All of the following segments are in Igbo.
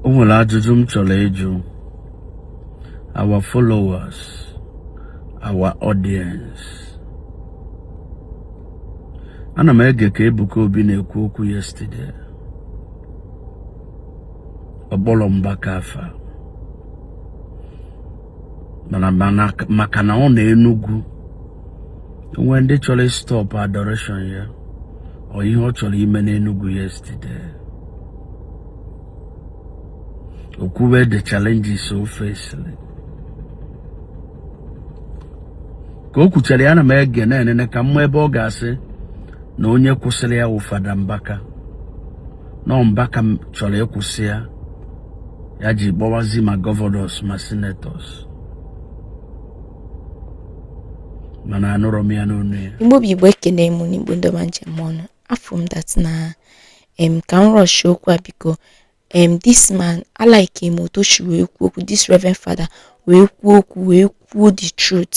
o nwere ajụjụ m chọrọ ịjụ our followers our audience ana m ege ka Ebuka Obi na-ekwu okwu yesterday ọ kpọrọ Mbaka afa maka na ọ na Enugu o nwee ndị chọrọ ịstọpụ adoration ya or ihe ọ chọrọ ime n'Enugu yesterday o kwube the challenges o fesịrị ka o kwuchara ya na m ege na-enene ka m ma ebe ọ ga-asị na onye kwụsịrị ya wụ Fada Mbaka na ọ Mbaka chọrọ ịkwụsị ya ya ji kpọwazi ma gọvanọs ma senetọs mana anụrọ m ya n'ọnụ ya Igbo bụ Igbo ekene m unu Igbo ndị ọma m ji eme ọnụ afụ m dat na em ka m rọshi okwu a biko em this man alaike m otu o si wee kwuo okwu this reverend father wee kwuo okwu wee kwuo the truth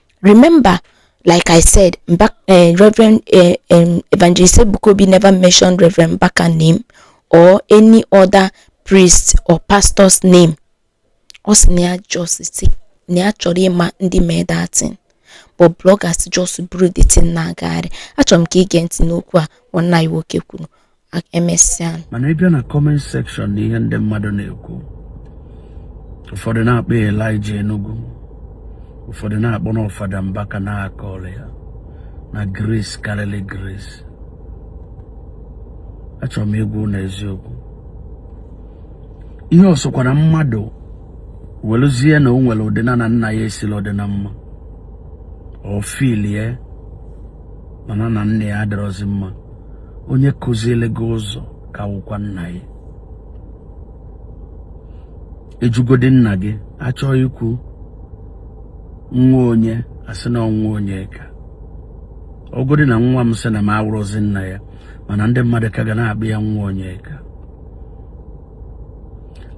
Remember, like I said, back, uh, eh, Reverend uh, um, Evangelist Ebuka Obi never mentioned Reverend Mbaka name or any other priest or pastor's name. Ọ sị na ya just si na ya chọrọ ịma ndị mee that thing but bloggers just buru the thing na-agagharị achọrọ m ka ị gee ntị n'okwu a nwanne anyị nwoke kwuru emesịa mana ị bịa na kọment sekshọn na ihe ndị mmadụ na-ekwu ụfọdụ na-akpọ Elijah Enugu ụfọdụ na-akpọ na ọ Fada Mbaka na aka ọrụ ya na grace karịrị grace achọrọ m ịgwa unu eziokwu ihe ọ sọkwara mmadụ weluzie na o nwere ụdị na na nna ya esila adị na mma ọ filie ma na na nna ya adịrọzi mma onye kuziele gị ụzọ ka wụkwa nna gị ị jụgodi nna gị a chọọ ikwu nwa onye a sị na ọ nwa Onyeka ọ godi na nwa m sị na m awụrụzi nna ya mana ndị mmadụ ka ga na-akpọ ya nwa Onyeka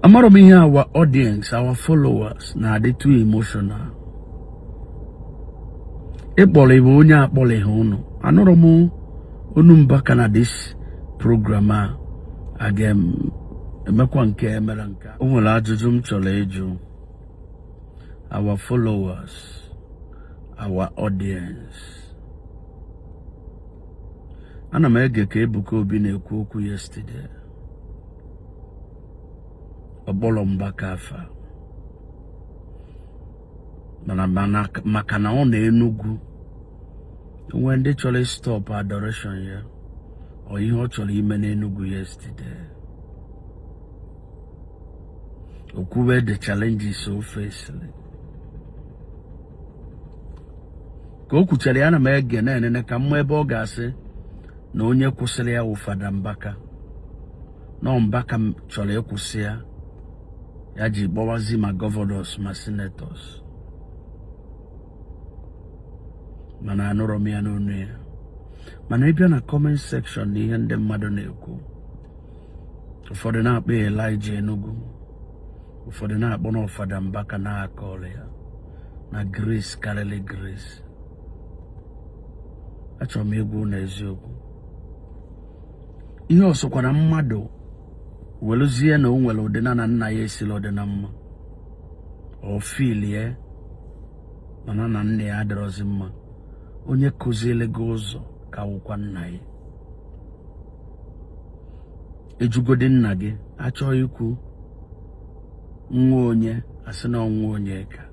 amarọ m ihe our audience our followers na-adị too emotional ịkpọrị bụ onye akpọrịghị unu anụrọ m ọnụ Mbaka na dis program a a ga-emekwa nke e mere nke o nwere ajụjụ m chọrọ ịjụ our followers our audience ana m ege ka Ebuka Obi na-ekwu okwu yesterday ọ kpọrọ Mbaka afa mana maka na ọ na Enugu o nwee ndị chọrọ ịstọpụ adoration ya or ihe ọ chọrọ ime n'Enugu yesterday o kwube the challenges o fesịrị ka o kwuchara ya na m ege na-enene ka m ma ebe ọ ga-asị na onye kwụsịrị ya wụ Fada Mbaka na Mbaka chọrọ ịkwụsị ya ya ji kpọwazi ma gọvanọs ma senetọs mana anụrọ m ya n'ọnụ ya mana ị bịa na kọment sekshọn na ihe ndị mmadụ na-ekwu ụfọdụ na-akpọ ya Elijah Enugu ụfọdụ na-akpọ na ọ Fada Mbaka na-akọrọ ya na grace karịrị grace achọrọ m ịgwa unu eziokwu ihe ọ sọkwara mmadụ weluzie na o nwere ụdị na na nna ya esila ọ dị na mma o filie mana na nna ya adịrọzi mma onye kuzieli gị ụzọ ka wụkwa nna gị ị jụgodi nna gị a chọọ ikwu nwa onye a sị na ọ nwa Onyeka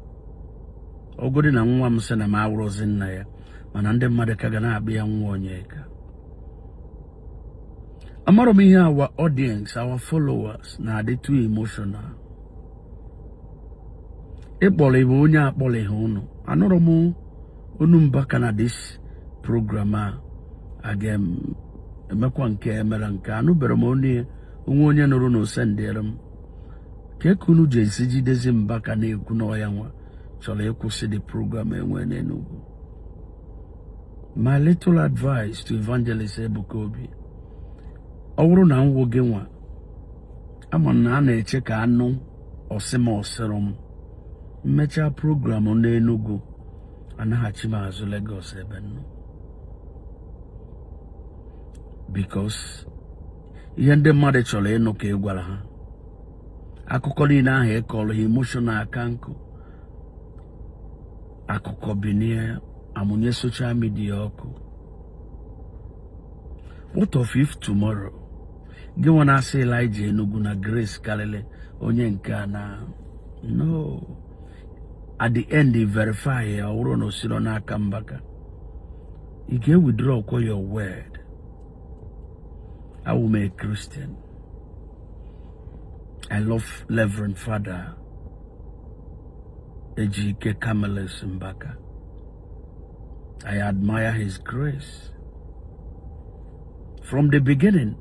ọ godi na nwa m sị na m awụrọzi nna ya mana ndị mmadụ ka ga na-akpọ ya nwa Onyeka amara m ihe our audience our followers na-adị too emotional ịkpọrọ iwe onye akpọrọ ihe ụnụ anụrọ m ọnụ Mbaka na this program a aga emekwa nke emere nke anụbere m onye o nwee onye nụrụ na o sendịere m kee ka unu ji esi jidezi Mbaka na-ekwu na ọ ya nwa chọrọ ịkwụsị the program e nwee n'Enugu my little advice to evangelist Ebuka Obi ọ wụrụ na m wụ gị nwa a ma na a na-eche ka a nụ ọ sị ma ọ sịrọ m mechaa program n'Enugu anaghachi m azụ Lagos ebe m nọ because ihe ndị mmadụ chọrọ ịnụ ka ị gwara ha akụkọ niile ahụ ị kọrọ ha emotional aka nkụ akụkọ binie amụnye soshal midia ọkụ what of if tomorrow gị nwa na-asị Elijah Enugu na grace karịrị onye nke a na no at the end e verify ya ọ wụrụ na o sirọ n'aka Mbaka ị ga-ewithdraw kwa your word awụ m a Christian I love Reverend Father Ejike Camillus Mbaka. I admire his grace. From the beginning,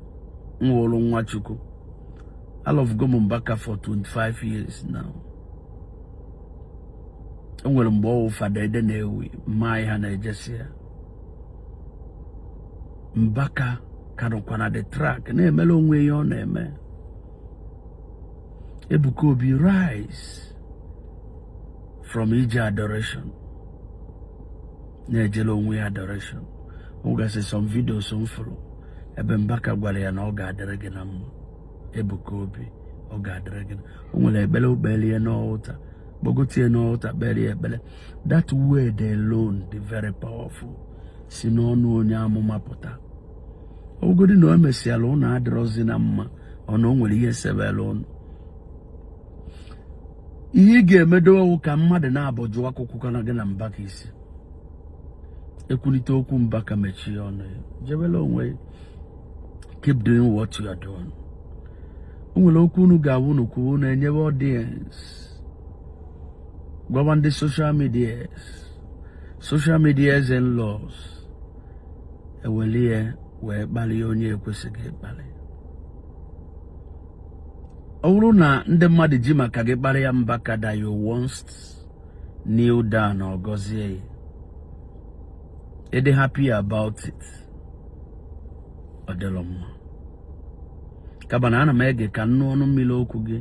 m wụlụ nwa Chukwu, alovugo mụ Mbaka for 25 years now. E nwere mgbe ọ wụ Fada Edeh na-ewu mma ihe na-ejesi ya. Mbaka ka nọkwa na the track na-emela onwe ihe ọ na-eme. Ebuka Obi rise from ije adoration na-ejele onwe ya adoration o nwegasị some videos m fụrụ ebe Mbaka gwara ya na ọ ga-adịrị gị na mma Ebuka Obi ọ ga-adịrị gị o nwere ekpere o kpere ya n'altar kpọgotie n'altar kpere ya ekpere that word alone dị very powerful si n'ọnụ onye amụma pụta ọ wụgodi na o mesịala ụnụ adịrọzi na mma ọnụ o nwere ihe sebere ụnụ ihe ị ga-emedo wụ ka mmadụ naabọ jụọ akụkọkwana gị na Mbaka isi ekwulite okwu Mbaka mechie ọnụ ya jebela onwe keep doing what you are doing o nwere okwu unu ga-awụ unu kwuo unu enyebe audience gwawa ndị social media social media in-laws eweli ya wee kpalịa onye ekwesịghị ịkpalị ọ bụrụ na ndị mmadụ ji maka gị kparịa Mbaka that you once kneel down ọ gọzie ya ị dị happy about it ọ dịlọ mma kaba na ana m ege ka m nụ ọnụ mmiri okwu gị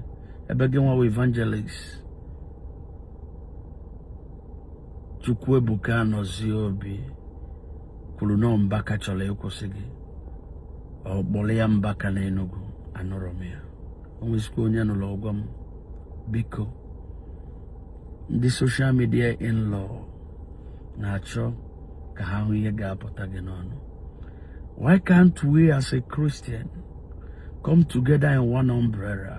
ebe gị nwawa evangelist Chukwuebuka Anọzie Obi kwuru na Mbaka chọrọ ịkwụsị gị ọ kpọrọ ya Mbaka na Enugu anụrọ m ya o nwezikwa onye nụrụ ọ gwa m biko ndị social media in-law na-achọ ka ha hụ ihe ga-apụta gị n'ọnụ why can't we as a Christian come together in one umbrella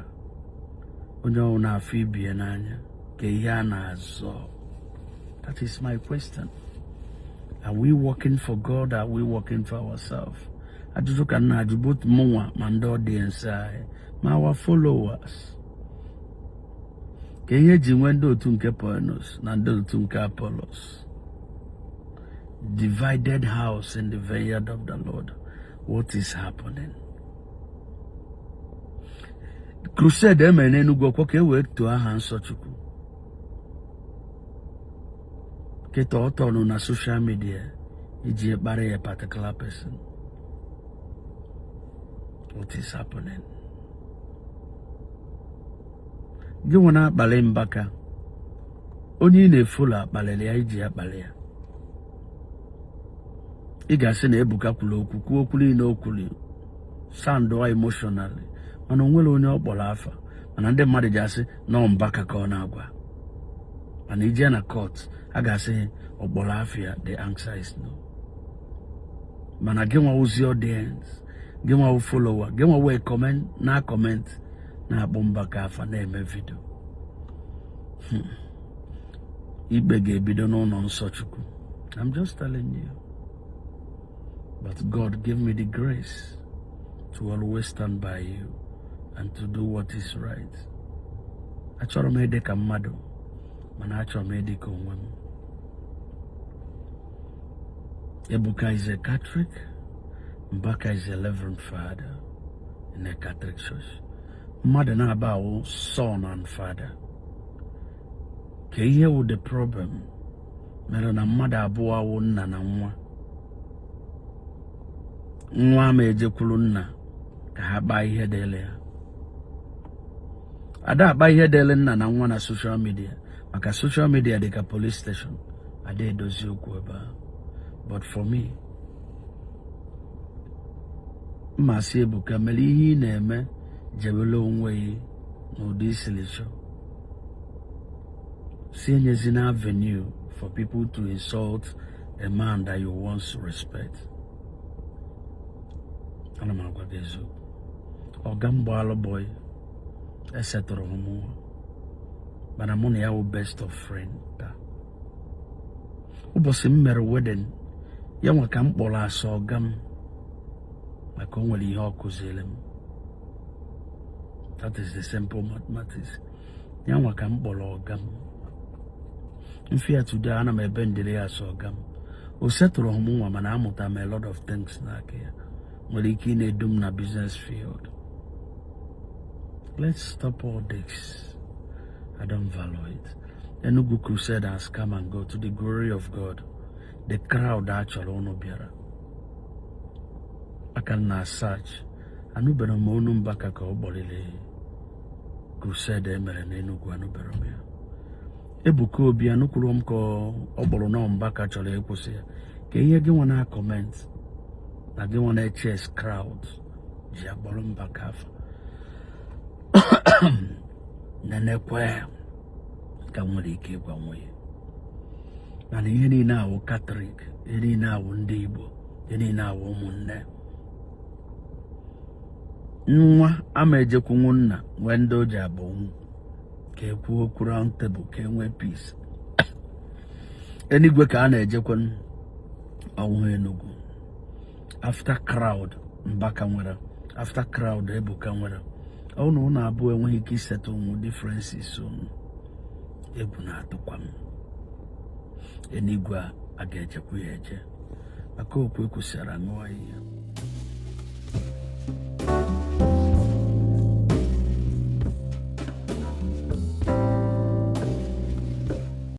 onye ọwụna afụ ibie n'anya ke ihe a na-azọ that is my question are we working for God are we working for ourselves ajụjụ ka m na-ajụ both mụnwa ma ndị audience anyị ma our followers ke ihe e ji nwee ndị otu nke Paulos na ndị otu nke Apollos divided house in the vineyard of the lord what is happening crusade emere n'Enugu ọkwa ka e wee too aha nsọ Chukwu kịta ọ tọnụ na soshal midia iji kparịa a particular person what is happening gị nwa na-akpalị Mbaka onye ị na-efolo akpalịrị ya i ji akpalị ya ị ga-asị na Ebuka kwuru okwu kwuo okwu niile o kwuru sandụa emotionally mana o nwere onye ọ kpọrọ afa mana ndị mmadụ ji asị na ọ Mbaka ka ọ na-agwa mana i je na kọt a ga-asị ọ kpọrọ afa ya the answer is no mana gị nwa wụzị audience gị nwa wụ follower gị nwa wee comment na comment na-akpọ Mbaka afa na-eme vidio hmm. ikpe ga-ebido n'ụlọ nsọ Chukwu I'm just telling you but God give me the grace to always stand by you and to do what is right achọrọ m ịdị ka mmadụ mana achọrọ m ịdị ka onwe m Ebuka is a Catholic Mbaka is a Reverend Father in a Catholic Church mmadụ naabọ a wụ son and father kee ihe wụ the problem mere na mmadụ abụọ a wụ nna na nwa nwa ma ejekwuru nna ka ha kpaa ihe dịrị ya a da-akpa ihe dịrị nna na nwa na soshal midia maka soshal midia dị ka polis steshọn a da-edozi okwu ebe a but for me m asị Ebuka mere ihe ị na-eme jebere onwe gị n'ụdị i siri chọọ si enyezina avenue for people to insult a man that you once respect ana m agwa gị eziokwu ọga m gbaalụ bọyị esetụrụhụ m nwa mana mụ na ya wụ best of friend taa ụbọchị m mere wedin ya nwa ka m kpọrọ as ọga m maka o nwere ihe ọ kụziri m that is the simple mathematics ya nwa ka m kpọrọ ọga m m fụ ya today ana m ebendịrị ya as ọga m o setụrụhụ m nwa mana amụta m a lot of things n'aka ya nwere ike ịna-edu m na business field let's stop all this I don't value it. Enugu crusade has come and go to the glory of God the crowd a chọrọ ụnụ bịara a ka na-asach anụberọ m ọnụ Mbaka ka ọ kparịrị crusade emere n'Enugu anụberọ m ya Ebuka Obi anụkwurọ m ka ọ kpọrọ na ọ Mbaka chọrọ ịkwụsị ya kee ihe gị nwa na-akọment na gị nwa na-eches clout ji akpọrọ mbaka afa nenekwa ka nwere ike ịgwa onwe ya mana ihe niile awụ katọlik ihe niile awụ ndị igbo ihe niile awụ ụmụnne nwa ama ejekwunwu nna nwee ndị o ji abụ nwu ka e kwuo okwu round table ka e nwee peace enigwe ka a na-ejekwa ọnwụ enugwu after crowd Mbaka nwere after crowd Ebuka nwere ọ na unu abụọ enweghị ike isettle ụmụ differences unu egwu na-atụkwa m enigwe a ga-ejekwu ya eje maka okwu ekwusara nụọ ihe